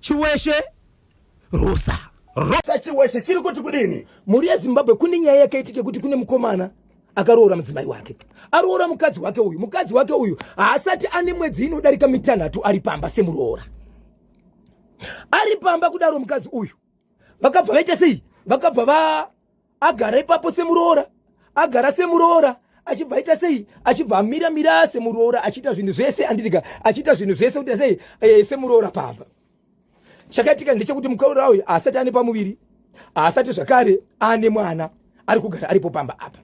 Chiweshe Rosa. Rosa Chiweshe chiri kuti kudini? Mhuri yeZimbabwe kune nyaya yakaitike kuti kune mukomana akaroora mudzimai wake aroora mukadzi wake uyu mukadzi wake uyu haasati ane mwedzi inodarika mitanhatu ari pamba semuroora ari pamba kudaro mukadzi uyu vakabva vaita sei vakabva va agara ipapo semuroora agara semuroora achibva aita sei achibva amira mira semuroora achiita zvinhu zvese anditika achiita zvinhu zvese kuti sei eh, semuroora pamba chakaitika ndechekuti mukaura uyu haasati ane pamuviri haasati zvakare ane mwana ari kugara aripo pamba apa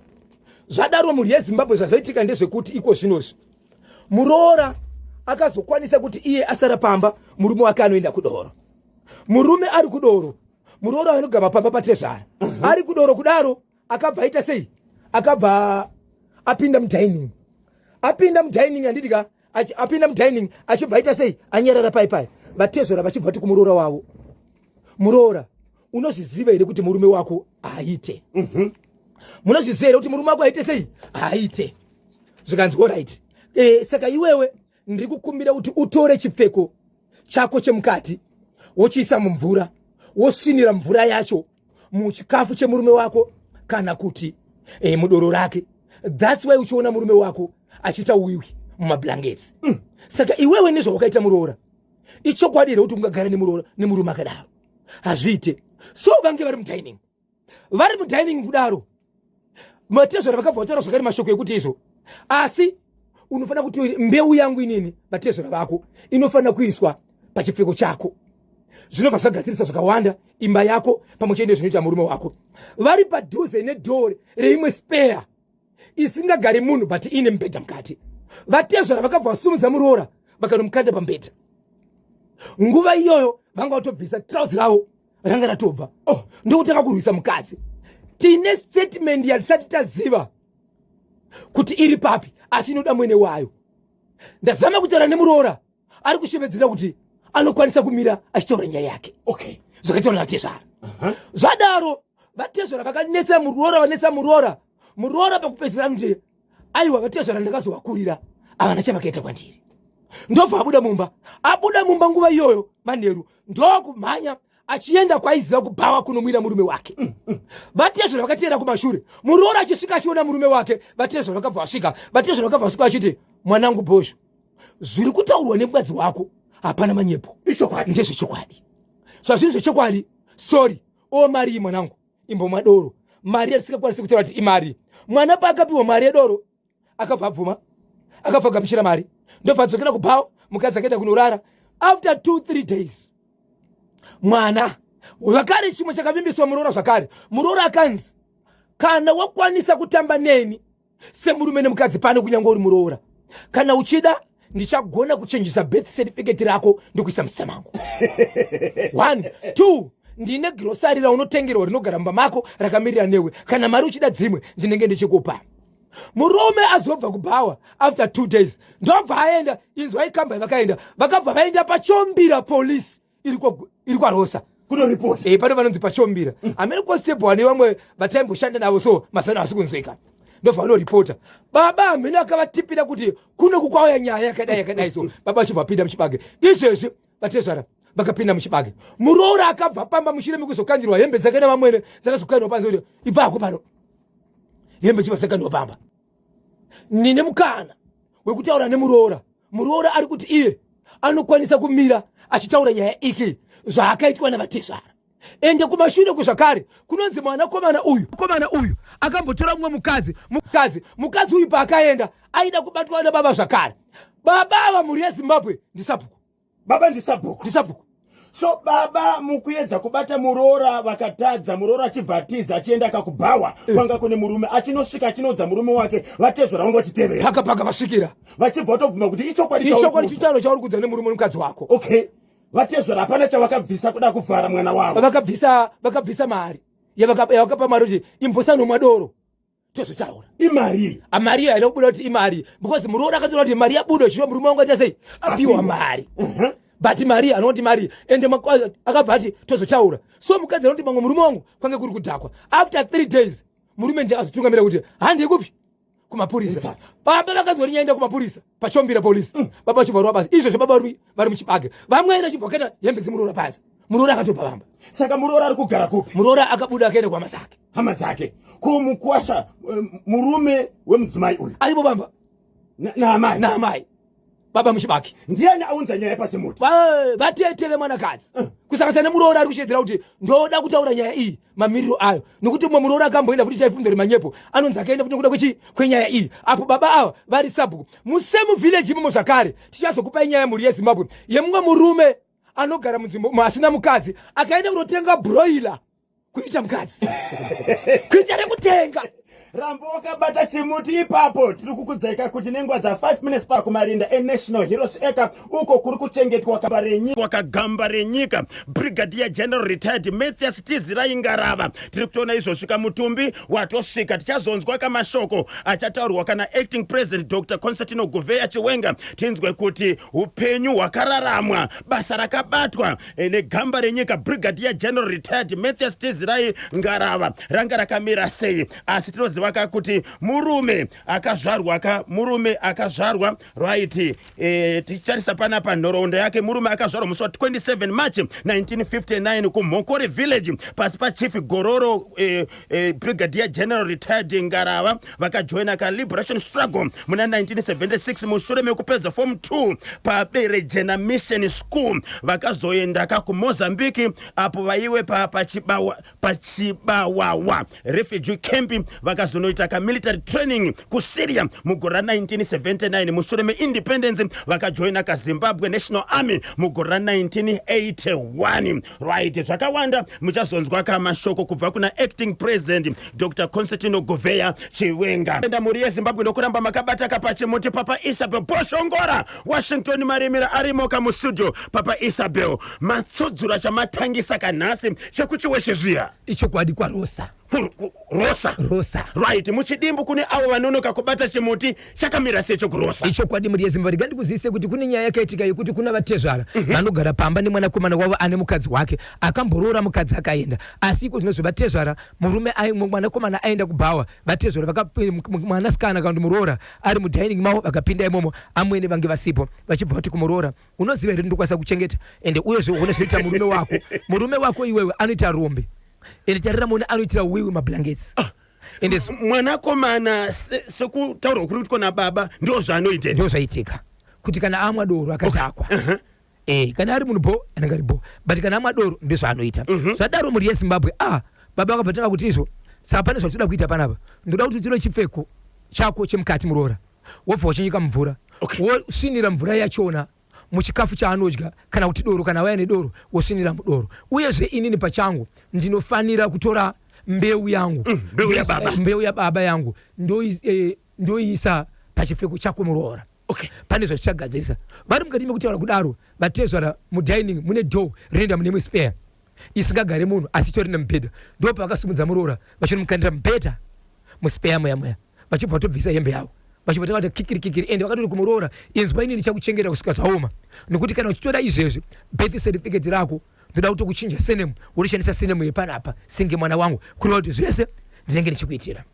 zvadaro mhuri yezimbabwe zvazoitika ndezvekuti iko zvinozvi muroora akazokwanisa kuti iye asara pamba murume wake anoenda kudoro murume ari kudoro muroora anogama pamba patezvara mhm. ari kudoro kudaro akabva aita sei akabva apinda mudining apinda mudining handiti ka apinda mudining achibva aita sei anyarara pai pai vatezvara vachibva vati kumuroora wavo muroora unozviziva here kuti murume wako haaite mhm. munozviziva here kuti murume wako haaite sei haaite zvikanzi orit e, eh, saka iwewe ndiri kukumbira kuti utore chipfeko chako chemukati wochiisa mumvura wosvinira mvura yacho muchikafu chemurume wako kana kuti e, mudoro rake thats why uchiona murume wako achiita wiwi mumablankets mm. saka iwewe nezvawakaita muroora ichokwadi here kuti ungagara nemurume akadaro hazviite so vange vari mudining vari mudining kudaro matezvara vakabva vataura zvakare mashoko ekuti izvo asi unofanira kuti mbeu yangu inini vatezvara vako inofanira kuiswa pachipfeko chako zvinobva zvagadzirisa zvakawanda imba yako pamwe chete nezvinoita murume wako vari padhuze nedhoo reimwe speya isingagari munhu but ine mubhedha mukati vatezvara vakabva vasumudza muroora vakanomukanda pambedha nguva iyoyo vanga vatobvisa trauzi ravo ranga ratobva oh, ndokutanga kurwisa mukadzi tine statement yatisati taziva kuti iri papi asi inoda mwene wayo ndazama kutaura nemuroora ari kushevedzera kuti anokwanisa kumira achitaura nyaya yake okay zvakataura vatezvara uh-huh. zvadaro vatezvara vakanetsa muroora vanetsa muroora muroora pakupedzera anote aiwa vatezvara ndakazovakurira avana chavakaita kwandiri ndobva abuda mumba abuda mumba nguva iyoyo manheru ndokumhanya achienda kwaiziva kubhawa kunomwira murume wake mm, mm. vatezvara vakateera kumashure muroora achisvika achiona murume wake vatezvara vakabva vasvika vatezvara vakabva vasvika vachiti mwanangu bhozho zviri kutaurwa nemukadzi wako hapana manyepo ichokwadi ndezvechokwadi zvazviri zvechokwadi sorry omariyi mwanangu imbomwa doro mari yatisingakwanisi kutora kuti imari mwana paakapiwa mari yedoro akabva abvuma akabva agamuchira mari ndobva adzokera kubhawa mukadzi akaita kunorara after two three days mwana zvakare chimwe chakavimbiswa muroora zvakare muroora akanzi kana wakwanisa kutamba neni semurume nemukadzi pane kunyange uri muroora kana uchida ndichagona kuchenjisa birth certificate rako ndikuisa muzita mangu one two ndine girosari raunotengerwa rinogara mumba mako rakamirira newe kana mari uchida dzimwe ndinenge ndichikupa murume azobva kubhawa after two days ndobva aenda inzwai kamba yavakaenda vakabva vaenda pachombira police iri kwarosa kunoripoti e, eh, pano vanonzi pachombira mm. amene constable ane vamwe vataimboshanda navo so mazano asi kunzwika ndobva vanoripota baba amene akavatipira kuti kuno kukwauya nyaya yakadai yakadai so baba vachibva vapinda muchibage izvezvi vatezvara vakapinda muchibage muroora akabva pamba mushure mekuzokandirwa hembe dzake nevamwene dzakazokanirwa panze kuti ibvako pano hembe chibva dzakanirwa pamba ndine mukana wekutaura nemuroora muroora ari kuti iye anokwanisa kumira achitaura nyaya iki zvaakaitwa navatezvara ende kumashure kuzvakare kunonzi mwanakomana uyu komana uyu akambotora mumwe mukadzi mukadzi mukadzi uyu paakaenda aida kubatwa nababa zvakare baba ava mhuri yezimbabwe ndisabhuku baba ndisabhuku ndisabhuku so baba mukuedza kubata muroora vakatadza muroora achibva atiza achienda akakubhawa eh. kwanga kune murume achinosvika achinoudza murume wake vatezora vanga vachitevera paka paka vasvikira vachibva vatobvuma kuti ichokwadi ichokwadi chitauro chauri kuudza nemurume nomukadzi wako okay vatezora hapana chavakabvisa kuda kuvhara mwana wavo vakabvisa vakabvisa mari yavakapa mari kuti imbosanomwa doro tozvitaura imari amari iyo haina kubuda kuti imari because muroora akatoona kuti mari yabuda zvino murume wangu aita sei apiwa mari uh-huh. but mari anoti mari ende akabva ati tozvitaura so mukadzi anoti mamwe murume wangu kwange kuri kudhakwa after three days murume ndiye akazotungamira kuti handikupi kumapurisa baba vakazoti nyaenda kumapurisa pachombira polisi mm. baba vachivarwa basa izvozvo baba rui vari muchibage vamwene chibvoketa hembe dzimuroora basa muroora akatobva vamba saka muroora ari kugara kupi muroora akabuda akaenda kuhama dzake hama dzake ko mukwasha eh, murume wemudzimai uyu aripo vamba naamai naamai baba muchibaki ndiani aunza nyaya pachimuti vatete vemwanakadzi eh. kusanganisana nemuroora ari kushedzera kuti ndoda kutaura nyaya iyi mamiriro ayo nokuti mumwe muroora akamboenda futi chaifumdori manyepo anonzi akaenda futi nokuda kwechi kwenyaya iyi apo baba ava vari sabhuku musemu village imomo zvakare tichazokupai nyaya yemhuri yezimbabwe yemumwe murume anogara munzvimbo umo asina mukadzi akaenda kunotenga broiler kuita mukadzi kuita rekutenga Rambo wakabata chimuti ipapo tiri kukudzaika kuti nenguva dza 5 minutes pakumarinda enational heroes eka uko kuri kuchengetwa gamba renyika wakagamba renyika brigadier general retired mathias tizirai ngarava tiri kutoona izvosvika mutumbi watosvika tichazonzwa kamashoko achataurwa kana acting president dr constantino guveya chiwenga tinzwe kuti upenyu hwakararamwa basa rakabatwa Eh, negamba renyika brigadier general retired mathias tezirai ngarava ranga rakamira sei asi tinoziva ka kuti murume akazvarwa ka murume akazvarwa right e, eh, tichitarisa panapa nhoroondo yake murume akazvarwa musi wa 27 march 1959 kumhokore village pasi pachief gororo e, eh, brigadier general retired ngarava vakajoina kaliberation struggle muna 1976 mushure mekupedza form 2 paberejena mission school vakazoenda ka kumozambique apo vaiwe pa- pachibawa- pachibawawa refugee camp vakazonoita kamilitary training kusyria mugore ra 1979 mushure meindependence vakajoina kazimbabwe national army mugore ra 1981 Right, zvakawanda muchazonzwa ka mashoko kubva kuna acting president Dr Constantino Goveya Chiwenga. Enda mhuri yeZimbabwe ndokuramba makabata ka pachimuti Papa Isabel Boshongora Washington Maremera arimo ka mustudio Papa Isabel matsudzura chamatangisa ka nhasi chekuchiweshe zviya. Ichokwadi kwaRosa. rosa rosa right muchidimbu kune avo vanonoka kubata chimuti chakamira secho kurosa ichokwadi mhuri yezimbabwe rega ndikuzivise kuti kune nyaya yakaitika yekuti kuna vatezvara mm -hmm. vanogara pamba nemwanakomana wavo ane mukadzi wake akamboroora mukadzi akaenda asi iko zvinozvi vatezvara murume mwanakomana aenda kubhawa vatezvara eh, mwanasikana kana kuti muroora ari mudining mavo vakapinda imomo amwene vange vasipo vachibva vati kumuroora unoziva here ndikwanisa kuchengeta ende uyezve uone zvinoita murume wako murume wako iwewe anoita rombe ende tarira mona anoitira wiwi mablankets ah. ende mwanakomana sekutaurwa kuri kutwa nababa ndo zvaanoita ndo zvaitika kuti kana amwa doro akadhakwa okay. uh -huh. Eh, kana ari munhu bo anenge ari bo but kana amwa doro ndo zvaanoita mm -hmm. zvadaro mhuri yezimbabwe ah baba vakabva tanga kuti izvo saka pane zvatinoda kuita panapa ndoda kuti utire chipfeko chako chemukati muroora wobva wachinyika mumvura okay. wosvinira mvura yachona muchikafu chaanodya kana kuti doro kana waya nedoro wosvinira mudoro uyezve inini pachangu ndinofanira kutora mbeu yangu mm, mbeu, ya baba. Eh, mbeu yababa yangu eh, ndoiisa eh, pachipfeko chako muroora okay. pane zvazvichagadzirisa vari mukati mekutaura kudaro vatezvara mudining mune door rinoenda mune imwe spare isingagare munhu asi itori nemubhedha ndo pavakasimudza muroora vachinomukanira mubhedha muspeya muya muya vachibva vatobvisa hembe yavo vachibva takati kikiri kikiri ende vakatoti kumuroora inzwa ini ndichakuchengeta kusvika zvaoma nokuti kana uchitoda izvezvi birth certificate rako ndoda kuti kuchinja senemu worishandisa senemu yepanapa singe mwana wangu kureva kuti zvese ndinenge ndichikuitira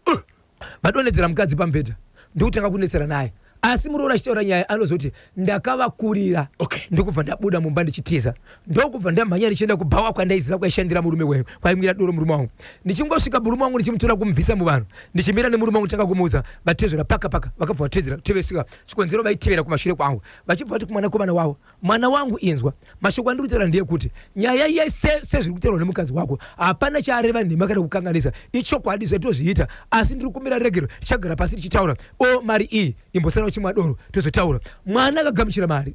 vadonedzera mukadzi pamubhedha ndokutanga kunetsera naye asi muroora achitaura nyaya anozoti ndakavakurira okay. ndokubva ndabuda mumba ndichitiza ndokubva ndamhanya ndichienda kubhawa kwandaiziva kwaishandira murume weyo kwaimwira doro murume wangu ndichingosvika murume wangu ndichimutora kumubvisa muvanhu ndichimira nemurume wangu tanga kumuudza vatezvera paka paka vakabva vatezera tevesika chikonzero vaitevera kumashure kwangu vachibva vati kumwanakomana wavo Mwana wangu inzwa, mashoko andiri kutaura ndeyekuti nyaya yese sezviri kutaurwa nemukadzi wako hapana chaareva nhema kana kukanganisa, ichokwadi zvatozviita asi ndiri kumbira regero tichagara pasi tichitaura o mari iyi imbosara uchimwa doro tozotaura. Mwana akagamuchira mari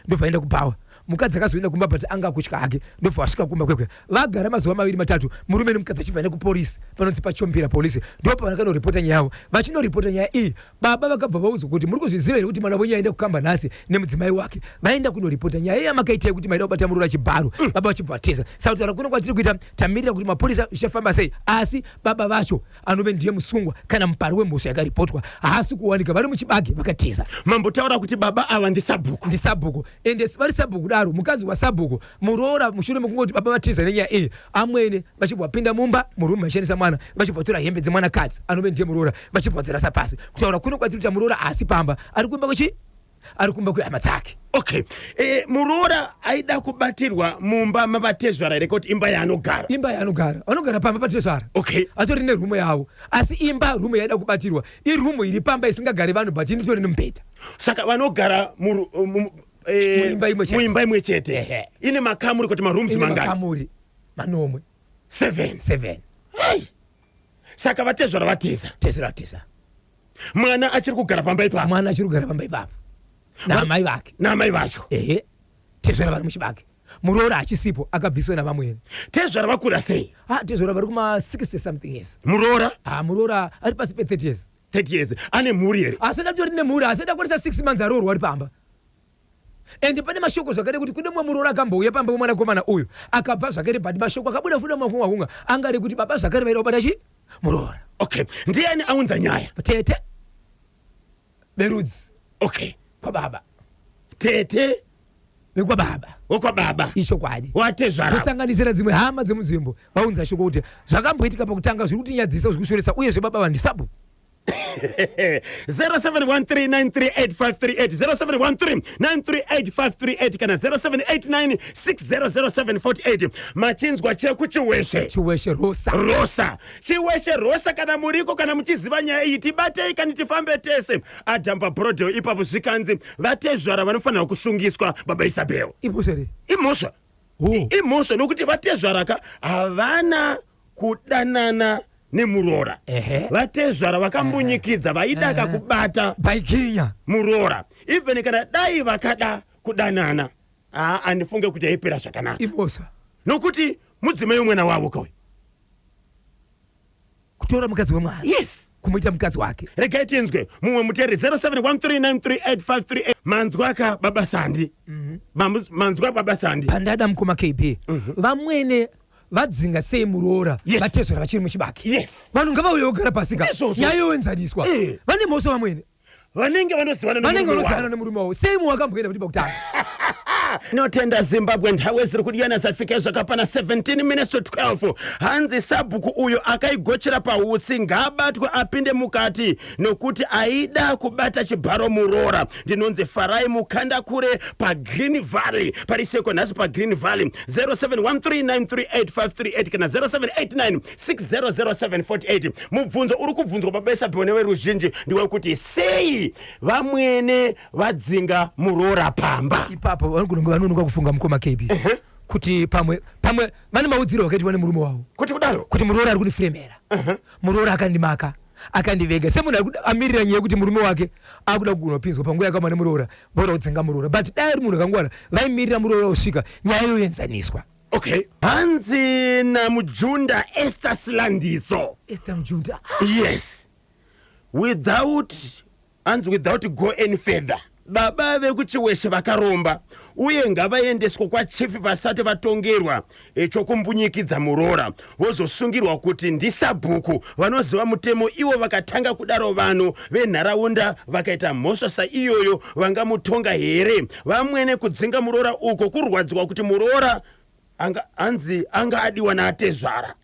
ndobva aenda kubhawa. Mukadzi akazoenda kumba but anga akutya hake ndobva asvika kumba kwekwe. Vagara mazuva maviri matatu murume nemukadzi achibva nekupolice panonzi paChombira police ndipo pavanokanoripota nyaya yavo. Vachinoripota nyaya iyi Baba vakabva vaudzwa kuti muri kuzviziva here kuti mwana wenyu aenda kukamba nhasi nemudzimai wake. Vaenda kunoripota nyaya iya makaita yekuti maida kubata muroora chibharo. Mm. Baba vachibva vatiza. Saka kutaura kuno kwatiri kuita tamirira kuti mapurisa zvichafamba sei. Asi baba vacho anove ndiye musungwa kana mupari wemhosva yakaripotwa haasi kuwanika vari muchibage vakatiza. Mambo taura kuti baba ava ndisabhuku. Ndisabhuku. Ende vari sabhuku daro mukadzi wasabhuku muroora mushure mekungoti baba vatiza nenyaya iyi amwene vachibva vapinda mumba murume vachishandisa mwana vachibva vatora hembe dzemwanakadzi anove ndiye muroora vachibva vadzirasa pasi kutaura kuno kwatiri kuti muroora haasi pamba ari kumba kwechi ari kumba kwehama dzake okay e, muroora aida kubatirwa mumba mavatezvara here kuti imba yaanogara imba yaanogara vanogara pamba patezvara okay atori nerumo yavo asi imba rumo yaida kubatirwa irumo iri pamba isingagari vanhu but initori nemubhedha saka vanogara eh, Muimba imwe chete. muimba imwe chete Ehe. ine makamuri kuti marooms ine mangani makamuri manomwe seven seven Hai. saka vatezvara vatiza tezera tisa mwana achiri kugara pamba ipapo mwana achiri kugara pamba ipapo naamai vake naamai vacho ehe tezvara vari muchibage muroora achisipo akabviswa navamwene tezvara vakura sei ah tezvara vari kuma 60 something years muroora ah muroora ari pasi pe 30 years 30 years ane mhuri here asati atori nemhuri asati akwanisa 6 months aroorwa ari pamba ende pane mashoko zvakare kuti kune mumwe muroora akambouya pamba wemwanakomana uyu akabva zvakare but mashoko akabuda futi makunga kunga angari kuti baba zvakare vaida kubata chi muroora okay ndiani aunza nyaya tete berudzi okay kwababa tete vekwababa wekwababa ichokwadi watezvara kusanganisira dzimwe hama dzemunzvimbo vaunza shoko kuti zvakamboitika pakutanga zviri kutinyadzisa zviri kushoresa uyezve baba vandisapo 0713938538 kana 0789600748 machinzwa chekuchiweshe chiweshe rosa rosa Chiweshe Rosha kana muriko kana muchiziva nyaya iyi tibatei kani tifambe tese ajamba brodeo ipapo zvikanzi vatezvara vanofanirwa kusungiswa baba Isabel imhosva here imhosva imhosva nokuti vatezvara ka havana kudanana nemuroora vatezvara vakambunyikidza vaida kakubata baikinya muroora even kana dai vakada kudanana haa andifunge kuti aipera zvakanaka imhosva nokuti mudzimai umwena wavo kauyu kutora mukadzi wemwana yes kumuita mukadzi wake regai tinzwe mumwe muteri 0713938538 manzwa aka baba sandi mhm. Mamu- manzwa baba sandi pandada mukoma kb mhm. vamwene vadzinga sei muroora Yes. vatezvera vachiri muchibaki yes vanhu ngavauye vogara pasi ka Ndizvozvo. nyaya yoenzaniswa Eh. vane mhosva vamwene vanenge vanozivana vanenge vanozivana nemurume wavo sei muwakamboenda kuti pakutanga notenda zimbabwe nhawe ziri kudyana zafika zvakapana 17 minutes to 12 hanzi sabhuku uyo akaigochera pautsi ngaabatwe apinde mukati nokuti aida kubata chibharo muroora ndinonzi farai mukanda kure pagreen valley pari seko nhasi pagreen valley 0713938538 kana 0789 600748 mubvunzo uri kubvunzwa pabesapiwa neveruzhinji ndewekuti sei vamwene vadzinga muroora pamba ipapo vanogona kunge vanonoka kufunga mukoma kb uh -huh kuti pamwe pamwe vane maudziro akaitwa nemurume wavo kuti kudaro kuti muroora ari kundifremera uh-huh. muroora akandimaka akandivega semunhu amirira nyaya yekuti murume wake akuda kugona kupinzwa panguva yakama nemuroora voda kudzinga muroora but dai ari munhu akangwara vaimirira muroora kusvika nyaya yoenzaniswa okay hanzi namujunda ester silandiso ester mujunda yes without hanzi without go any further baba vekuchiweshe vakaromba uye ngavaendeswe kwachifi vasati vatongerwa eh, chokumbunyikidza muroora vozosungirwa kuti ndisabhuku vanoziva mutemo ivo vakatanga kudaro vanhu venharaunda vakaita mhosva saiyoyo vangamutonga here vamwene kudzinga muroora uko kurwadziwa kuti muroora anga anzi anga adiwa naatezvara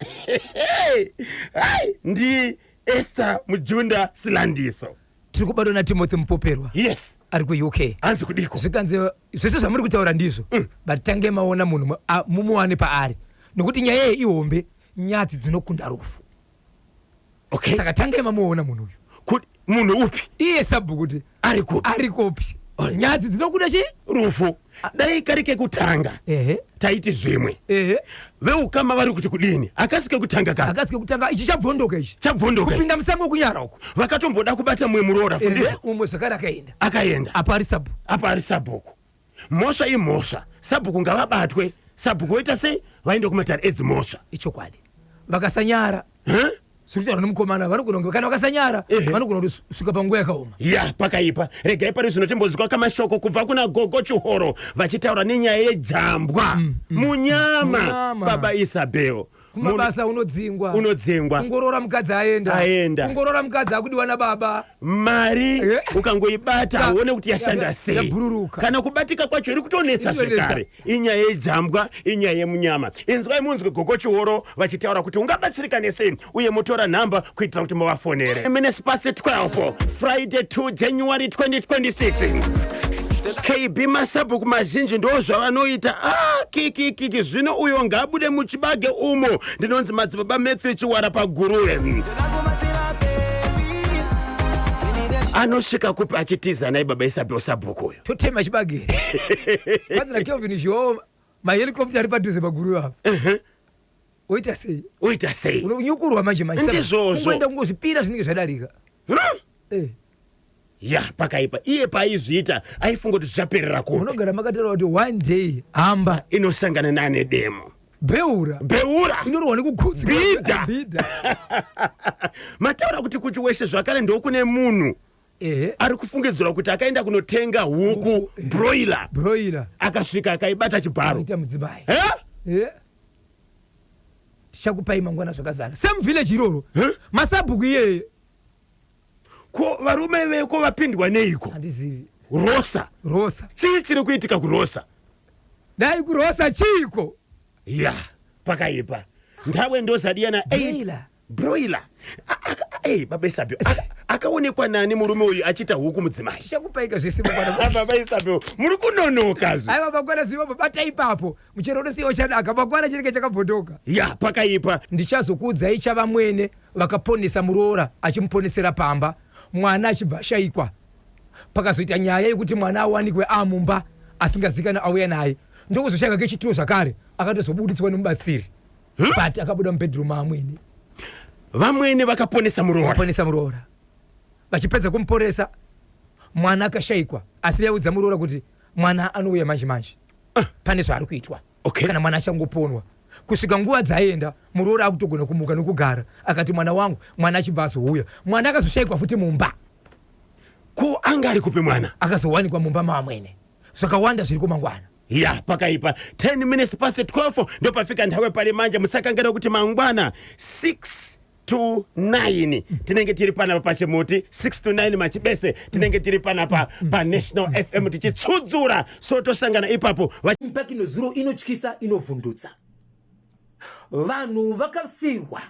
ndi esta mujunda silandiso tiri kubatwa natimothy mupoperwa yes ari kuuk hanzi kudiko zvikanzi zvese zvamuri kutaura ndizvo mm. but tange maona munhu mumuwane paari nokuti nyaya iyi ihombe nyadzi dzinokunda rufu okay. saka tange mamuona munhu uyu munhu upi iye sabhuku kuti ari kupi nyadzi dzinokunda chi rufu dai kari kekutanga ehe taiti zvimwe ehe veukama vari kuti kudini akasi kekutanga ka akasi kekutanga ichi chabvondoka ichi chabvondoka kupinda musango kunyara uko vakatomboda kubata mumwe muroora ehe fundisa umwe zvakare akaenda akaenda apa ari sabu apa ari sabhuku mhosva imhosva sabhuku ngavabatwe sabhuku voita sei vaende kumatare edzimhosva ichokwadi vakasanyara huh? siritaura nemukomana vanogona kunge kana vakasanyara vanogona kuti svika panguva yakaoma ya pakaipa regai pari zvino timbonzwa kamashoko kubva kuna gogo chihoro vachitaura nenyaya yejambwa mm, mm, munyama mm, baba isabel kumabasa unodzingwa unodzingwa kungorora mukadzi aenda aenda kungorora mukadzi akudiwa nababa mari Eh. ukangoibata Ya- uone kuti yashanda ya- sei yabhururuka. kana kubatika kwacho iri kutonetsa Inonetsa. zvekare inyaya yejambwa inyaya yemunyama inzwai munzwe gogo chiworo vachitaura kuti ungabatsirikane sei uye motora nhamba kuitira kuti muvafonere minutes past 12 friday 2 january 2026 kb masabhuku mazhinji ndo zvavanoita ah, kikikiki zvino uyo ngaabude muchibage umo ndinonzi madzibaba matthew chiwara paguruve anosvika kupi achitiza nai baba isabewo sabhuku uyo totema chibage vanzi nakelvin zhoo mahelicopta ari padhuze paguruve apa Ehe. woita sei oita sei unonyukurwa manje manje Ndizvozvo. unoenda kungozvipira zvinenge zvadarika Hmm? Eh, ya pakaipa iye paaizviita aifunga kuti zvichaperera kupi munogara makataura kuti one day hamba inosangana nane demo beura beura inorohwa nekugutsi Bhidha. bhidha mataura kuti kuchi weshe zvakare ndokune munhu ehe ari kufungidzirwa kuti akaenda kunotenga huku Huku, eh. broiler broiler akasvika akaibata chibharo ita mudzimai Eh? Eh? tichakupai mangwana zvakazara same village iroro Huh? masabhuku iyeye ko varume veko vapindwa neiko handizivi rosa rosa chii chiri kuitika kurosa dai kurosa chiiko ya pakaipa ndawe ndozadiya na Broiler. broiler ei baba isabio Aka- akaonekwa nani murume uyu achiita huku mudzimai tichakupaika zvese mangwana Ah, baba isabio muri kunonoka zve aiwa mangwana ziva babata ipapo muchero unosiya uchadaka mangwana chinenge chakabhodoka ya pakaipa ndichazokuudzai chavamwene vakaponesa muroora achimuponesera pamba mwana achibva ashaikwa. Pakazoita nyaya yekuti mwana awanikwe aamumba asingazikanwe auya naye ndokuzoshaiwa kechituro zvakare akatozobuditswa nemubatsiri hmm? but akabuda mubedroom maamwene. Vamwene vakaponesa muroora. Vakaponesa muroora. Vachipedza kumuporesa mwana akashaikwa asi vaiudza muroora kuti mwana anouya manje manje. Ah. Pane zvaari kuitwa. okay. kana mwana achangoponwa kusvika nguva dzaenda muroori akutogona kumuka nokugara akati mwana wangu mwana achibva azouya mwana akazoshayikwa futi mumba ko anga ari kupi mwana akazowanikwa mumba maamwene zvakawanda zviri kumangwana ya pakaipa 10 minutes past 12 ndopafika nthawi pari manje musakangira kuti mangwana 6 to 9 tinenge tiri panapa pachimuti 6 to 9 machibese tinenge tiri panapa panational fm tichitsudzura so tosangana ipapo impact inozuro inotyisa inovhundutsa vanhu vakafirwa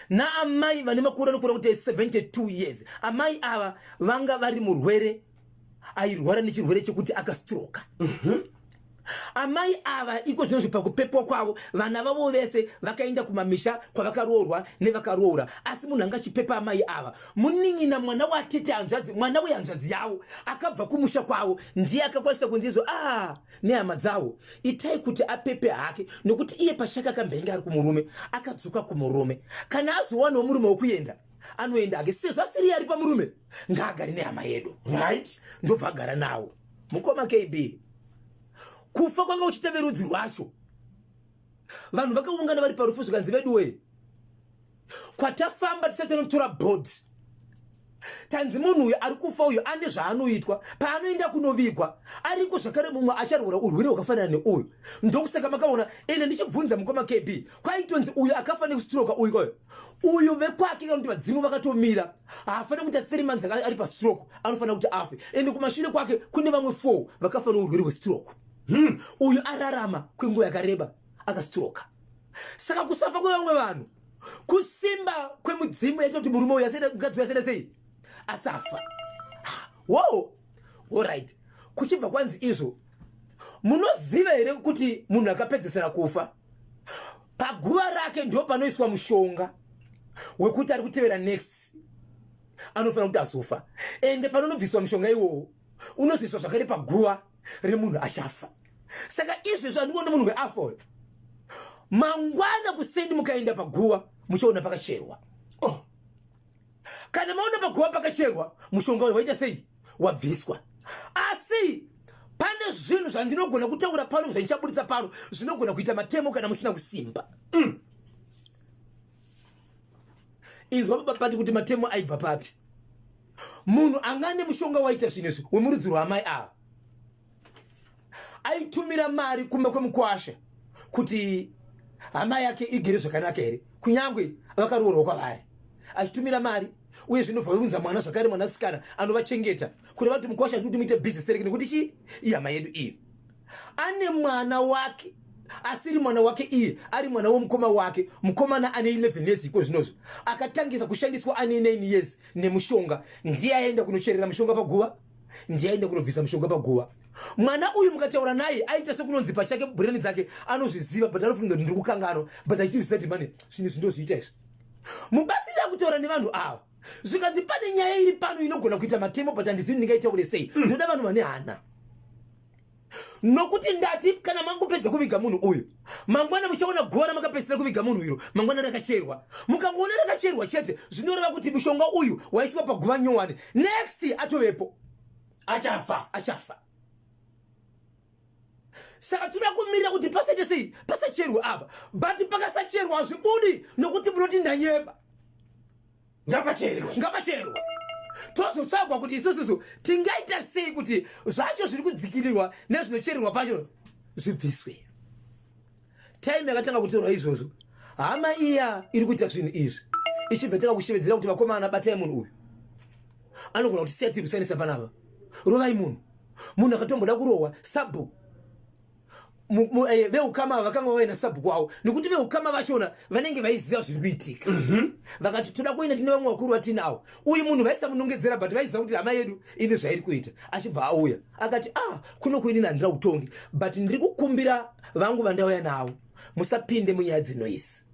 naamai vane makore anokura kuti 72 years amai ava vanga vari murwere airwara nechirwere chekuti akastroka mhm. amai ava iko zvinozvi pakupepwa kwavo vana vavo vese vakaenda kumamisha kwavakaroorwa nevakaroora asi munhu anga achipepa amai ava munin'ina mwana watete hanzvadzi mwana wehanzvadzi yavo akabva kumusha kwavo ndiye akakwanisa kunzizo a ah, nehama dzavo itai kuti apepe hake nokuti iye pachake akambenge ari kumurume akadzoka kumurume kana azowanawo murume wekuenda anoenda hake sezvo asiri ari pamurume ngaagare nehama yedu right ndobva agara nawo mukoma kb kufa kwanga uchita verudzi rwacho vanhu vakaungana vari parufu zvikanzi veduwee kwatafamba tisati tanotora bhodhi tanzi munhu uyu ari kufa uyu ane zvaanoitwa paanoenda kunovigwa ariko zvakare mumwe acharwura urwere hwakafanana neuyu ndokusaka makaona ende ndichibvunza mukoma kb kwaitonzi uyu akafa nekustroka uyu kwayo uyu vekwake kana kuti vadzimu vakatomira haafanira kuita three months ari pastroke anofanira kuti afe ende kumashure kwake kune vamwe four vakafa nourwere hwestroke hmm. uyu ararama kwenguva yakareba akastroka saka kusafa kwevamwe vanhu kusimba kwemudzimu yaita kuti murume uyu mukadzi uyu asenda sei asafa wo orit kuchibva kwanzi izvo munoziva here kuti munhu akapedzesera kufa paguva rake ndo panoiswa mushonga wekuti ari kutevera next anofanira kuti azofa ende panonobviswa mushonga iwowo unozoiswa zvakare paguva remunhu achafa saka izvezvo andikuona munhu weafa uyo mangwana kuseni mukaenda paguva muchaona pakacherwa oh. kana maona paguva pakacherwa mushonga uyu waita sei wabviswa asi pane zvinhu zvandinogona kutaura pano zvandichaburitsa pano zvinogona kuita matemo kana musina kusimba mm. inzwa papati kuti matemo aibva papi munhu anga ane mushonga waita zvinhu izvi wemurudzi rwaamai ava aitumira mari kumba kwemukwasha kuti hama yake igere zvakanaka here kunyange vakaroorwa kwavari achitumira mari uye zvinobva vunza mwana zvakare mwanasikana anovachengeta kuti vati mukwasha achikuti muite business tereke nekuti chii ihama yedu iyi ane mwana wake asiri mwana wake iye ari mwana womukoma wake mukomana ane 11 years iko zvinozvo akatangisa kushandiswa ane 9 years nemushonga ndiye aenda kunocherera mushonga paguva ndiye aenda kunobvisa mushonga paguva mwana uyu mukataura naye aita sekunonzi pachake bhureni dzake anozviziva but anofunga kuti ndiri kukanganwa but achitozviziva kuti mane zvinhu izvi ndozviita izvi mubatsiri akutaura nevanhu ava zvikanzi pane nyaya iri pano inogona kuita matemo but handizivi ndingaita kule sei hmm. ndoda vanhu vane hana nokuti ndati kana mangopedza kuviga munhu uyu mangwana muchaona guva ramakapedzisira kuviga munhu iro mangwana rakacherwa mukangoona rakacherwa chete zvinoreva kuti mushonga uyu waiswa paguva nyowani next atovepo achafa achafa saka tinoda kumirira kuti pasaite sei pasacherwe apa but pakasacherwa hazvibudi nokuti munoti ndanyeba ngapacherwe ngapacherwe tozotsvagwa kuti isususu tingaita sei kuti zvacho zviri kudzikirirwa nezvinochererwa pacho zvibviswe time yakatanga kutorwa izvozvo hama iya iri kuita zvinhu izvi ichibva tanga kushevedzera kuti vakomana batai munhu uyu anogona kuti seti kusainisa panapa rovai munhu munhu akatomboda kurohwa sabhuku Eh, veukama ava vakanga vauya nasabhuku wavo nekuti veukama vachona vanenge vaiziva zviri kuitika mhm. vakati toda kuenda tine vamwe vakuru vatinawo uyu munhu vaisamunongedzera but vaiziva kuti hama yedu ine zvairi kuita achibva auya akati a ah, kuno kuini nandira utongi but ndiri kukumbira vangu vandauya navo musapinde munyaya dzinoisi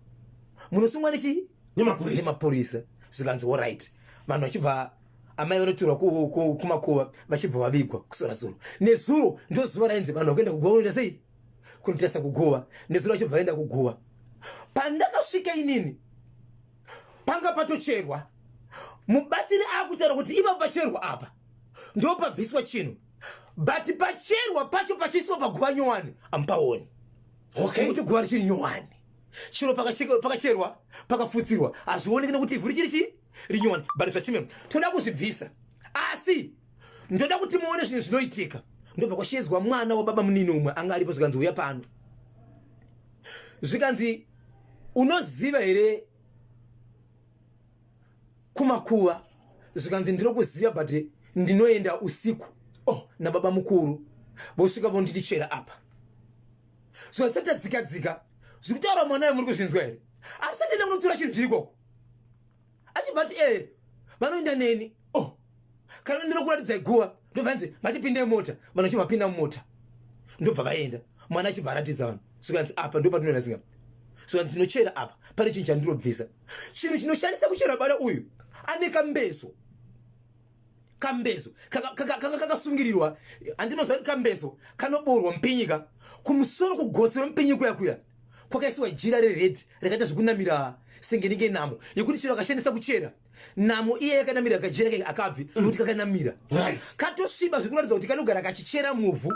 munosungwa nechii nemapurisa zvikanzi orit vanhu vachibva amai vanotorwa kumakuva vachibva vavigwa kusora zuro nezuro ndo zuva rainzi vanhu vakuenda kuguva unoita sei kunotesa kuguva nezuro vachibva vaenda kuguva pandakasvika inini panga patocherwa mubatsiri akutaura kuti ipapo pacherwa apa ndo pabviswa chinhu but pacherwa pacho pachiiswa paguva nyowani amupaoni okay. kuti guva richiri nyowani chiro pakacherwa pakafutsirwa hazvioneki nekuti ivhu richiri chii rinyowani but zvachimemo toda kuzvibvisa asi ndoda kuti muone zvinhu zvinoitika ndobva kwashedzwa mwana wababa munini umwe anga aripo zvikanzi uya pano zvikanzi unoziva here kumakuva zvikanzi ndino kuziva but ndinoenda usiku oh nababa mukuru vosvika vonditi chera apa zvikanzi satadzikadzika zviri kutaura mwana yemuri kuzvinzwa here asi satenda kunotora chinhu chiri koko achibva ati ee eh, vanoenda neni o oh, kana ndinokuratidzai guva ndobva nzi ngatipinde mota vanhu achibva vapinda mumota ndobva vaenda mwana achibva aratidza vanhu sokanzi apa ndopatinoenda singa soka ndinochera apa pane chinhu chandinobvisa chinhu chinoshandisa kuchera bada uyu ane kambeso kambezo kanga kakasungirirwa andinoziva kuti kambezo kanoboorwa mupinyika kumusoro kugotsi romupinyiko yakuya kwakaisiwa jira reredhi rakaita zvekunamira senge nenge namo yekuti chero akashandisa kuchera namo iye yakanamira kajira kake akabvi mm. nokuti kakanamira katosviba zvekuratidza kuti kanogara kachichera muvhu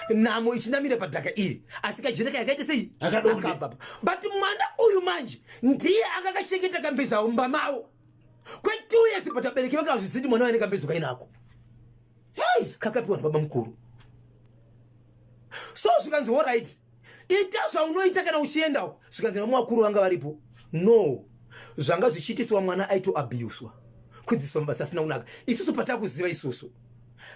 namo ichinamira padhaka iri asi kajira kake akaita sei akabvapa but mwana uyu manje ndiye akakachengeta kambezaumba mavo kwe two years but abereki vanga azvisiti mwana waine kambezo kainako hey kakapiwa nababa mukuru so zvikanzi all right ita zvaunoita kana uchienda uko zvikanzi vamwe vakuru vanga varipo no zvanga zvichiitiswa mwana aitoabuswa kudzidziswa mabasa asina kunaka isusu patakuziva isusu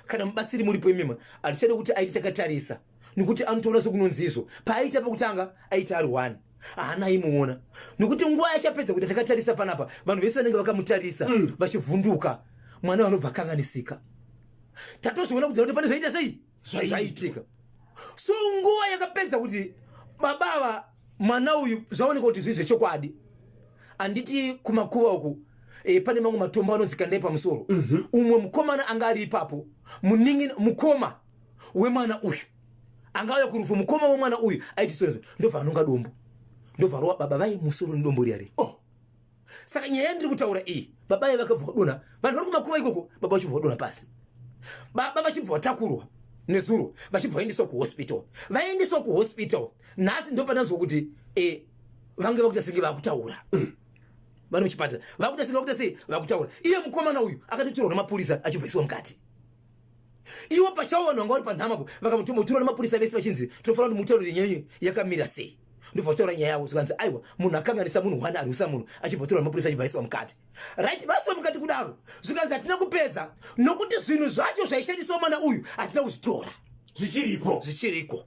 kana mubatsiri muripo imima hatichade kuti aite chakatarisa nokuti anotoona sekunonzizvo paaita pekutanga aita ari one haana aimuona nokuti nguva yachapedza kuti takatarisa panapa vanhu vese vanenge vakamutarisa mm. vachivhunduka mwana vanobva akanganisika tatozoona kudzira kuti pane zvaita sei zvaitika so nguva yakapedza kuti baba ava mwana uyu zvaoneka kuti zvii zvechokwadi handiti kumakuva uku e, pane mamwe matombo anonzi kandai pamusoro mm -hmm. umwe mukomana anga ari ipapo muningi mukoma wemwana uyu angauya kurufu mukoma wemwana uyu aiti sozo ndobva anonga dombo ndobva rova baba vai musoro nedombo riya ri oh saka nyaya yandiri kutaura iyi baba ye vakabva vadona vanhu vari kumakuva ikoko baba vachibva vadona pasi baba vachibva vatakurwa nezuro vachibva vaendeswa kuhospital vaendeswa kuhospital nhasi ndopananzwa kuti eh, vange vakuita senge vakutaura mm. vari muchipatara vakuita senge vakuita sei vakutaura iye mukomana uyu akatotorwa nemapurisa achibvaisiwa mukati iwo pachawo vanhu vanga vari panhama po vakamutumba kutirwa nemapurisa vese vachinzi tinofanira kuti mutaurire nyaya yakamira sei ndobva kutaura nyaya yavo zvikanzi aiwa munhu akanganisa munhu one arwisa munhu achibva kutirwa nemapurisa achibva aiswa mukati right vaiswa mukati kudaro zvikanzi hatina kupedza nokuti zvinhu zvacho zvaishandiswa mwana uyu hatina kuzvitora zvichiripo zvichiriko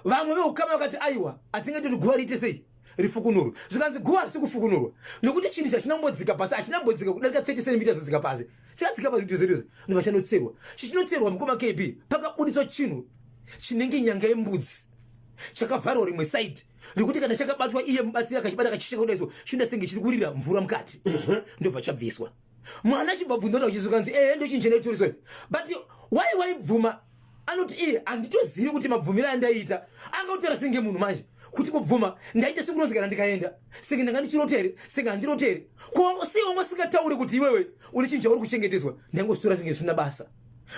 vamwe veukama vakati aiwa hatinge toti guva riite sei rifukunurwe zvikanzi guva harisi kufukunurwa nokuti chinhu chachina kumbodzika pasi hachina kumbodzika kudarika 30 centimeters kudzika pasi chakadzika pasi kuti zverizvo ndova chanotserwa chichinotserwa mukoma kb pakabuditswa chinhu chinenge nyanga yembudzi chakavharwa rimwe side rekuti kana chakabatwa iye mubatsiri akachibata kachisheka kudaiso chinda senge chiri kurira mvura mukati ndobva chabviswa mwana achibva bvunza kuti uchizwa kanzi ehe ndochinja neturiso idzi but why waibvuma anoti iye handitozivi kuti mabvumiro andaita angautaura senge munhu manje kuti kubvuma ndaita sekunonzi kana ndikaenda senge ndanga ndichirotere senge handirotere sei wanga usingatauri kuti iwewe une chinhu chauri kuchengeteswa ndangozvitora senge zvisina basa